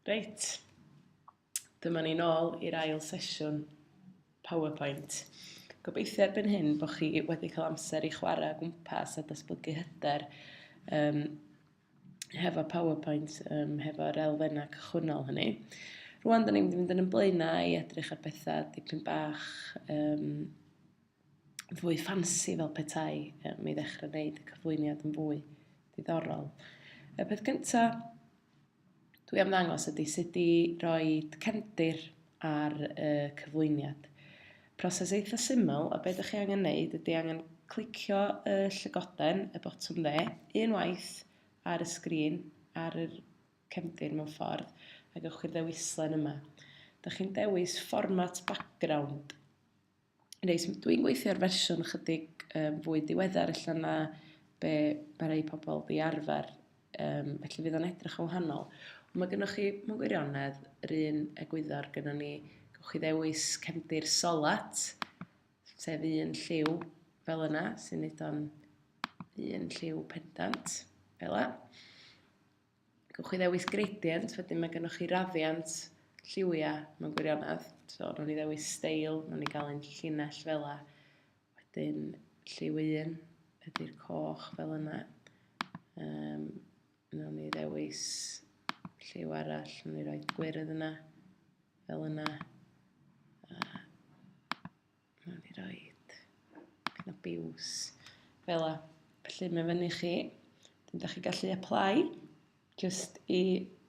Reit, dyma ni nôl i'r ail sesiwn PowerPoint. Gobeithio erbyn hyn bod chi wedi cael amser i chwarae o gwmpas a datblygu hyder um, hefo PowerPoint, um, hefo'r elfennau cychwynnol hynny. Rwan, da ni'n mynd i fynd yn ymlaenau i edrych ar bethau dipyn bach um, fwy ffansi fel petai um, mi ddechrau wneud y cyflwyniad yn fwy diddorol. Y peth cyntaf dwi am ddangos ydy sut i roi cefndir ar y cyflwyniad. Proses eitha syml, a beth ydych chi angen wneud ydy angen clicio y llygoden, y botwm dde, unwaith ar y sgrin, ar y cefndir mewn ffordd, ac ewch i'r ddewislen yma. Dych chi'n dewis format background Reit, dwi'n gweithio ar fersiwn chydig um, fwy diweddar illa na be mae rhai pobl di arfer, um, felly fydd o'n edrych yn wahanol. Ond mae gennych chi, mewn gwirionedd, yr un egwyddor gyda ni, gwych chi ddewis cefndir solat, sef un lliw fel yna, sy'n neud o'n un lliw pendant, fel yna. gewch chi ddewis gradient, wedyn mae gennych chi raddiant lliwiau mewn gwirionedd. So, nhw'n ni ddewis steil, nhw'n ni gael ein llinell fel la. Wedyn, lliw un ydy'r coch fel yna. Um, nhw'n ni ddewis lliw arall, nhw'n ni roi gwyrdd yna, fel yna. Wnawn ni roed kind of biws fel la. Felly mae fyny chi. Dwi'n da chi gallu apply just i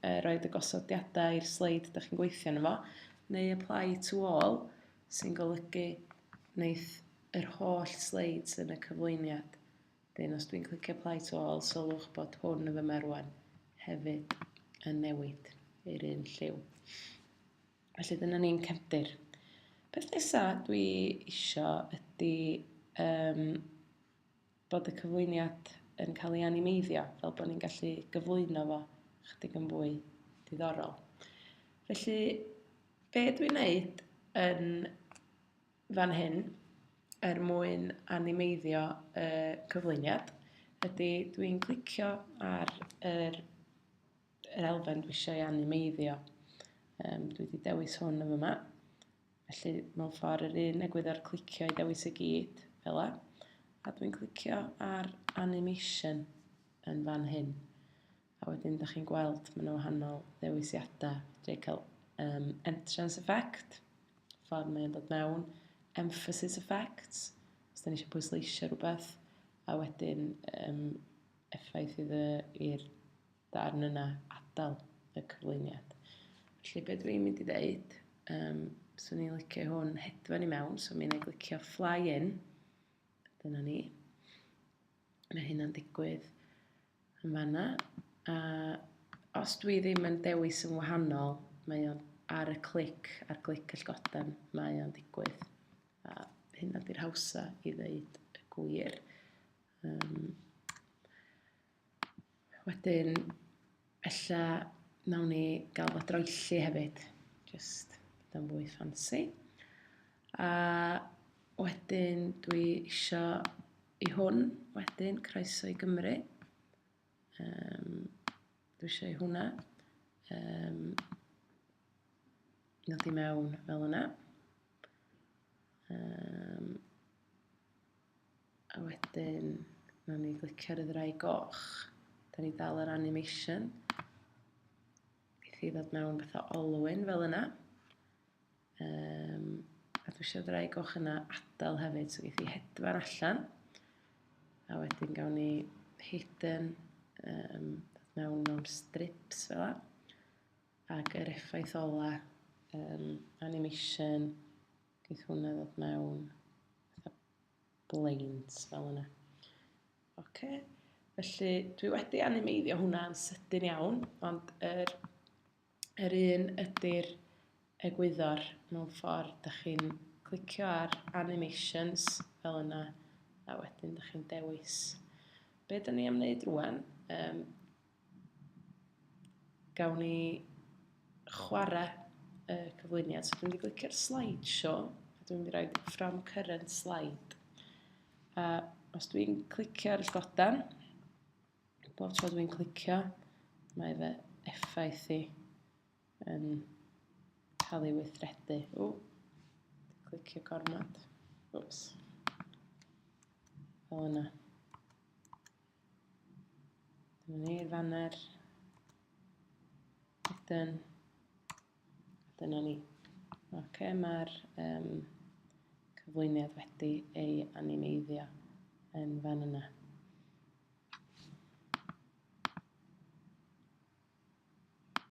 uh, roed y gosodiadau i'r sleid da chi'n gweithio yno fo, neu apply to all sy'n golygu wneud yr holl sleids yn y cyflwyniad. Dyn, os dwi'n clicio apply to all, sylwch bod hwn yn fy merwan hefyd yn newid i'r un lliw. Felly dyna ni'n cefndir. Peth nesa dwi isio ydy um, bod y cyflwyniad yn cael ei animeiddio, fel bod ni'n gallu gyflwyno fo chydig yn fwy diddorol. Felly, be dwi'n neud yn fan hyn er mwyn animeiddio y cyflwyniad ydy dwi'n clicio ar yr yr elfen dwi eisiau ei animeiddio. Um, dwi wedi dewis hwn yn yma. Felly mewn ffordd yr un egwyddor clicio i dewis y gyd, fel la. A dwi'n clicio ar animation yn fan hyn. A wedyn, da chi'n gweld, mae yna wahanol ddewisiadau. Dwi'n cael um, entrance effect, ffordd mae'n dod mewn, emphasis effects, os da ni eisiau pwysleisio rhywbeth, a wedyn um, effaith i'r darn yna adael y cyflwyniad. Felly be dwi'n mynd i ddeud, um, swn i'n licio hwn hedfan i mewn, so mi'n ei glicio fly in. Dyna ni. Mae hynna'n digwydd yn fanna. A os dwi ddim yn dewis yn wahanol, mae o'n ar y clic, ar glic y llgoden, mae o'n digwydd. A hynna di'r hawsa i ddeud y gwir. Um, Wedyn, ella nawn ni gael fo droelli hefyd. Just dan fwy ffansi. A wedyn dwi isio i hwn wedyn croeso i Gymru. Um, dwi isio i hwnna. Um, nod i mewn fel yna. Um, A wedyn, na ni glicio ar y ddrai goch. Da ni dal yr animation. Geith i ddod mewn beth o olwyn fel yna. Um, a dwi eisiau ddrai goch yna adael hefyd, so geith i hedfan allan. A wedyn gawn ni hidden um, mewn mewn strips fel yna. Ac yr effaith ola um, animation Geith hwnna ddod mewn fatha blaint fel yna. Oce, felly dwi wedi animeiddio hwnna'n sydyn iawn, ond yr, yr un ydy'r egwyddor mewn ffordd, da chi'n clicio ar animations fel yna, a wedyn da chi'n dewis. Be da ni am wneud rwan, um, gawn ni chwarae y cyflwyniad. So dwi'n mynd i glicio'r slideshow, a dwi'n mynd i roi from current slide. A os dwi'n clicio ar y godan, bob tro dwi'n clicio, mae fe effaith i yn cael ei weithredu. O, clicio gormod. Oops. Fel yna. Dyna ni, fanner. Ydyn. Dyna ni. Ok, mae'r um, cyflwyniad wedi ei animeiddio yn fan yna.